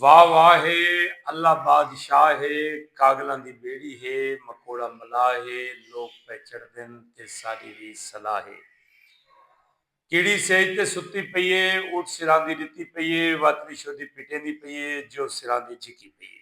واہ واہ ہے اللہ بادشاہ ہے کاگلاں دی بیڑی ہے مکوڑا ملاح ہے لوک پئے چڑھدن تے ساڈی وی صلاح ہے کیڑی سیج تے ستی پئی ہے اٹھ سراندی ڈتی پئی ہے وت وی شودی پٹیندی پئی ہے جو سراندی جھکی پئی ہے۔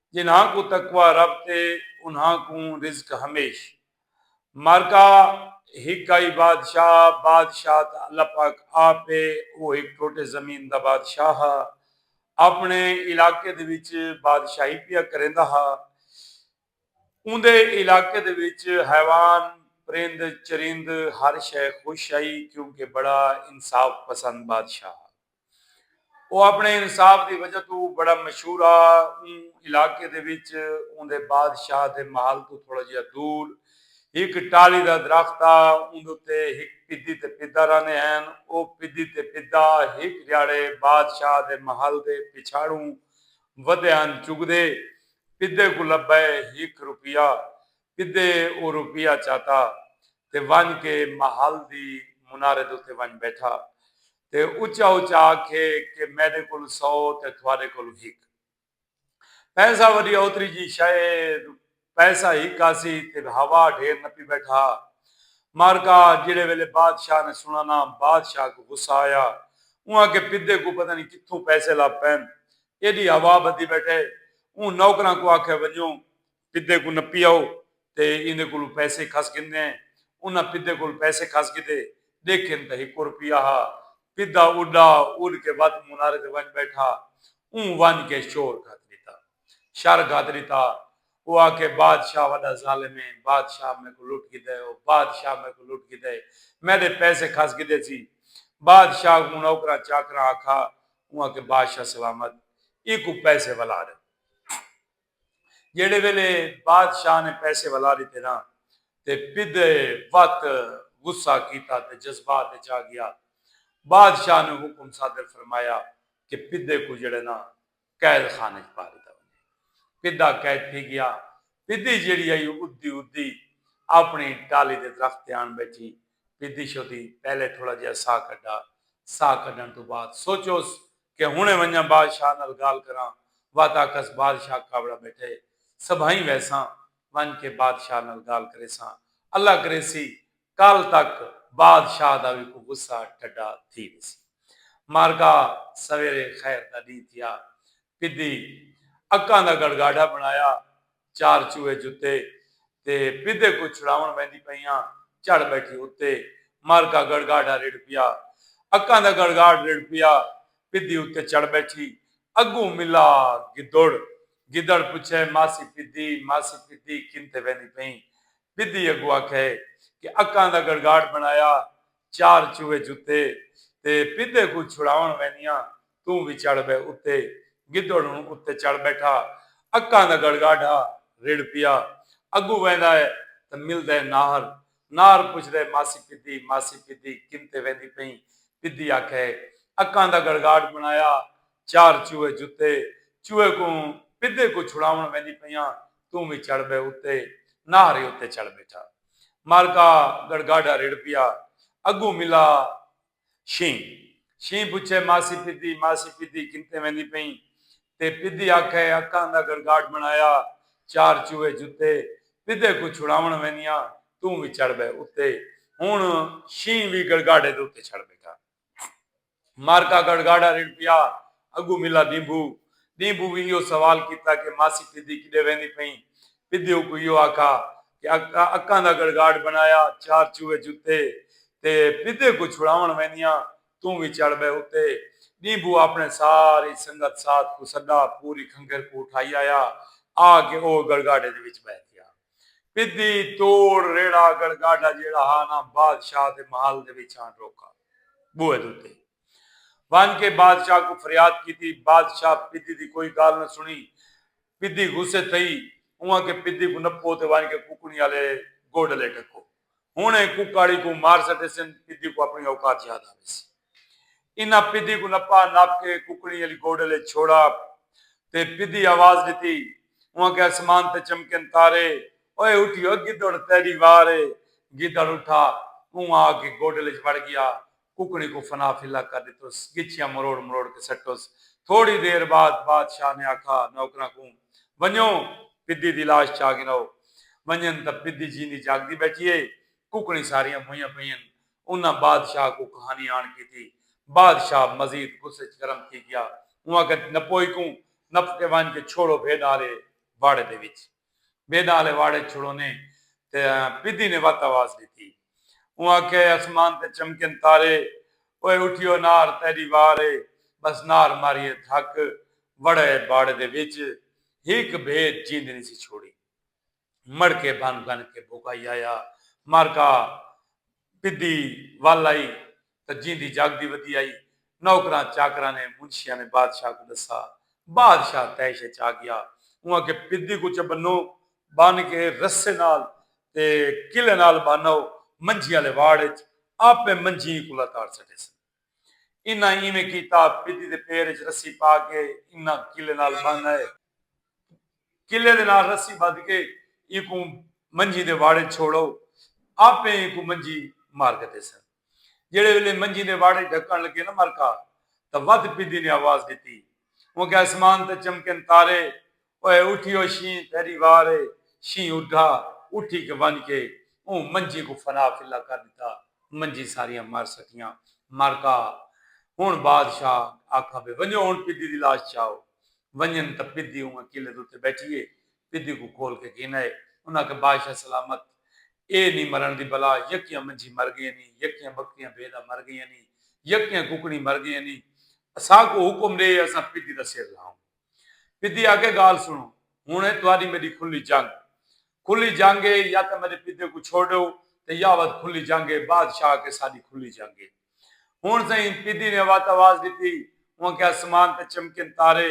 جنہاں کوں تقوی رب تے انہاں کوں رزق ہمیش۔ معرکہ، ہک آئی بادشاہ، بادشاہ تاں اللہ پاک آپ ہے، او ہک ٹوٹے زمین دا بادشاہ ہا، اپݨے علاقے دے وچ بادشاہی پیا کریندا ہا، اوندے علاقے دے وچ حیوان، پرند، چرند ہر شئے خوش ہئی کیونکہ بڑا انصاف پسند بادشاہ ہا۔ او اپݨے انصاف دی وجہ توں بڑا مشہور ہا۔ اوں علاقے دے وچ اوندے بادشاہ دے محل توں تھوڑا جیہا دور ہک ٹالی دا درخت ہا۔ اوندے اتے ہک پدی تے پدا رہندے ہن۔ او پدی تے پدا ہک ݙیہاڑے بادشاہ دے محل دے پچھاڑوں ودے ہن۔ چڳدے پدے کوں لبھئے ہک روپیہ۔ پدے او روپیہ چاتا تے ونڄ کے محل دی منارے دے اتے ونڄ ٻیٹھا۔ تے اچا اچا آکھے کہ میڈے کول سو تے تھواڈے کول ہک پیسہ وڈی اوتری جی شئے اے پیسہ ہک آسی تے ہوا ڈھیر نپی بیٹھا مارکا جیڑھے ویلے بادشاہ نے سنڑنا بادشاہ کوں غصہ آیا اوں آکھے پدے کوں پتہ نی کتھوں پیسے لب پین ایڈی ہوا بدی بیٹھے اوں نوکراں کوں آکھے ونجو پدھے کوں نپی آؤ تے ایندے کولوں پیسے کھس گھندے ہیں۔ انہاں پدھے کول پیسے کھس گھدے۔ ڈیکھن تاں ہکو روپیہ ہا۔ پدھا اڈا اڈ کے وت منارے تے ونج بیٹھا۔ اوں ونج کے شور گھت ڈتا۔ شر گھت ڈتا۔ او آکھے بادشاہ وڈا ظالم ہے۔ بادشاہ میکوں لٹ گھدا ہے۔ او بادشاہ میکوں لٹ گھدا ہے۔ میڈے پیسے کھس گھدے سی۔ بادشاہ کوں نوکراں چاکراں آکھا۔ اوں آکھے بادشاہ سلامت۔ ایکوں پیسے ولا ڈے۔ جیڑھے ویلے بادشاہ نے پیسے ولا ڈتے نا تے پدھے وت غصہ کیتا تے جذبات اچ آ گیا۔ بادشاہ نے حکم صادر فرمایا کہ پدھے کوں جیڑھے نا قید خانے اچ پا ڈتا ونجے۔ پدھا قید تھی گیا۔ پدھی جیڑھی ہئی او ادھی ادھی اپنڑی ٹالی دے درخت تے آن بیٹھی۔ پدھی شودھی پہلے تھوڑا جیہا ساہ کڈھا۔ ساہ کڈھنڑ توں بعد سوچوس کہ ہنڑیں ونجاں بادشاہ نال گالھ کراں، وت آکھس بادشاہ کاوڑا بیٹھے ہے، سبھائیں ویساں، ونج کے بادشاہ نال گالھ کریساں، اللہ کریسی کل تک بادشاہ دا وی کو غصہ ٹھڈا تھی ویسی۔ مارکا سویرے خیر دا ڈینہہ تھیا، پدی اکاں دا گڑگاڈا بنڑایا، چار چوہے جتے تے پدھے کوں چھڑاوݨ ویندی پئیاں چڑھ ٻیٹھی اتے مارکا گڑگاڈھا رڑھ پیا اکاں دا گڑگاڈھ رڑھ پیا پدھی اتے چڑھ ٻیٹھی اڳوں ملا گدڑ گدڑ پچھے ماسی پدھی ماسی پدھی کن تھے ویندی پئیں پدھی اڳوں آکھے کہ اکاں دا گڑگاڈھ بݨایا چار چوہے جتے تے پدھے کوں چھڑاوݨ ویندیاں توں وی چڑھ بئے اتے گدڑ ہن اتے چڑھ بیٹھا اکاں دا گڑگاڈھا رڑھ پیا اگوں ویندا اے تاں ملدا اے ناہر ناہر پچھدا اے ماسی پدھی ماسی پدھی کن تے ویندی پئیں پدھی آکھے اکاں دا گڑگاڈھ بنڑایا چار چوہے جتے چوہے کوں پدھے کوں چھڑاوݨ ویندی پئیاں توں وی چڑھ بئے اتے ناہر اتے چڑھ بیٹھا۔ مالکا گڑگاڈا رڑھ پیا اگوں ملا شیں شیں پچھے ماسی پدی ماسی پدی کنتے ویندی پئیں تے پدی آکھے اکاں دا گڑگاڈ بنڑایا چار چوہے جتے پدے کوں چھڑاون ویندیاں توں وی چڑھ بہ اتے ہن شیں وی گڑگاڈے دے اتے چڑھ بیٹھا۔ مارکا گڑھ گاڑھا رڑھ پیا۔ اگو ملا دیمبھو۔ دیمبھو وی ایہو سوال کیتا کہ ماسی پھدی کڈے ویندی پئیں؟ پھدی اوکوں ایہو آکھا کہ اکا اکاں دا گڑھ گاڑھ بنڑایا چار چوہے جتے تے پھدے کوں چھڑاونڑ ویندیاں توں وی چڑھ بہ اتے۔ دیمبھو آپنڑے ساری سنگت ساتھ کوں سڈا پوری کھنگھر کوں اٹھائی آیا آ کے او گڑھ گاڑھے دے وچ بہہ تھیا۔ پدی توڑ ریڑھا اگڑ گاڈھا جیڑھا ہا نا بادشاہ دے محل دے وچ آن روکا۔ بوہے دے اتے۔ ونج کے بادشاہ کوں فریاد کیتی۔ بادشاہ پدی دی کوئی گالھ نہ سنڑی۔ پدی غصے تھئی۔ اونہاں کے پدی کوں نپو تے ونج کے کوکڑیں آلے گوڈلے ڈھکو۔ ہنڑیں کوکاڑی کوں مار سٹیسن۔ پدی کوں اپنڑی اوقات یاد آویسی۔ انہاں پدھی کوں نپا نپ کے ککڑیں آلی گوڈل اچ چھوڑا تے پدھی آواز ڈتی اوں آکھیا اسمان تے چمکن تارے اوئے اٹھی او گدڑ تیڈی وار اے گدڑ اٹھا اوں آ کے گوڈل اچ وڑ گیا ککڑیں کوں فنا فلا کر ڈتس گچھیاں مروڑ مروڑ کے سٹس تھوڑی دیر بعد بادشاہ نے آکھا نوکراں کوں ونجو پدھی دی لاش چا گھنو ونجن تاں پدھی جیندی جاگدی بیٹھی اے ککڑیں ساریاں موئیاں پئین انہاں بادشاہ کوں کہانی آن کیتی۔ بادشاہ مزید غصے اچ گرم تھی گیا۔ اوں آکھیا نپوئی کوں نپ تے ونج کے چھوڑو بھیݙاں آلے واڑے دے وچ۔ بھیݙاں آلے واڑے اچ چھوڑونے تے پدی نے وت آواز ݙتی۔ اوں آکھیا اے اسمان تے چمکن تارے۔ اوئے اٹھیو نار تیݙی وار اے۔ بس نار ماری اے دھک۔ وڑئے واڑے دے وچ۔ ہک بھیݙ جیندی نی سی چھوڑی۔ مڑ کے بھن بھن کے بھوکائی آیا مارکا پدی ول آئی تاں جیندی جاگدی ودی آئی نوکراں چاکراں نے منشیاں نے بادشاہ کوں ڈسا بادشاہ تیش اچ آ گیا اوں آکھے پدی کوں چہ بنو بن کے رسے نال تے کلے نال بن آؤ منجھی آلے واڑ اچ آپے منجھی ایں کلا تاڑ سٹیسن۔ انہاں ایویں کیتا، پدی دے پیر اچ رسی پا کے انہاں کلے نال بن آئے۔ کلے دے نال رسی بدھ کے اینکوں منجھی دے واڑ اچ چھوڑ او۔ آپے اینکوں منجھی مار گھدیسن۔ جیڑھے ویلے منجھی دے واڑ اچ ڈھکن لگے نا مرکا تاں ودھ پدی نے آواز ڈتی۔ اونکھیا اسمان تے چمکن تارے اوئے اٹھی او شینہہ تیڈی وار اے۔ شینہہ اڈھا اٹھی کے ونج کے اوں منجھی کوں فنا فلا کر ڈتا۔ منجھی ساریاں مر سٹیاں۔ مر کا ہن بادشاہ آکھا بے ونجو ہن پدی دی لاش چاؤ۔ ونجن تاں پدی اونگا قلعے دے اتے بیٹھی اے۔ پدی کوں کھول کے گھن آئے۔ انہاں آکھا بادشاہ سلامت اے نی مرن دی بلا یکیاں منجھی مر گئیاں نی یکیاں بکریاں بھیڈاں مر گئیاں نی یکیاں ککڑیں مر گئیاں نی۔ اساکوں حکم ڈے اساں پدی دا سر لاؤں۔ پدی آکھے گالھ سنڑو ہنڑ اے تہاڈی میڈی کھلی جنگ کھلی جنگ اے یا تاں میڈے پدے کوں چھوڈو تے یا ود کھلی جنگ اے بادشاہ آکھے ساڈی کھلی جنگ اے ہنڑ سئیں پدی نے وت آواز ڈتی اوں آکھے اسمان تے چمکن تارے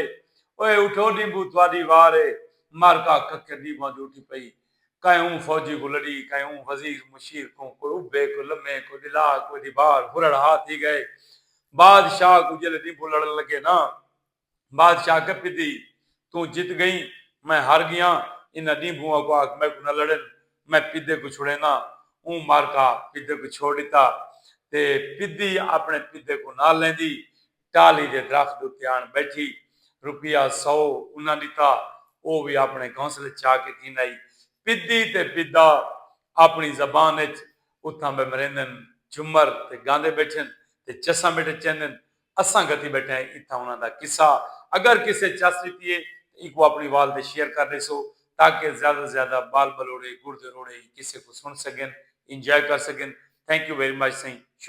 اوئے اٹھو ڈیمبو تہاڈی وار اے معرکہ ککے ڈیمبواں دی اٹھی پئی کہیں اوں فوجی کوں لڑی کہیں اوں وزیر مشیر کوں کوئی ابھے کوئی لمے کوئی ڈلا کوئی ڈیبار ہرڑ ہا تھی گئے بادشاہ کوں جیلے ڈیمبو لڑن لگے ناں بادشاہ گپی دی توں جت گئیں میں ہر گیاں انہاں ڈینبھوں اکوں آکھ میکوں نہ لڑن میں پدے کوں چھڑینداں اوں مارکا پدے کوں چھوڑ ڈتا تے پدی اپنے پدے کوں نال لیندی ٹالی دے درخت اتے آن بیٹھی روپیہ سو انہاں ڈتا او وی اپنے گھونسلے چا کے گھن آئی پدی تے پدا اپنی زبان اچ اتھاں بہ مریندن جھمر تے گاندے بیٹھن تے چساں میٹے چیندن اساں گھتی بیٹھے ہیں اتھاں انہاں دا قصہ اگر کسے چس ویتی ہے تاں ایکوں اپنی وال دے شیئر کر ڈیسو تاکہ زیادہ توں زیادہ بال بلوڑے گڑ دے روڑے ای قصے کوں سن سگن انجوائے کر سگن تھینک یو ویری مچ سئیں شکریہ۔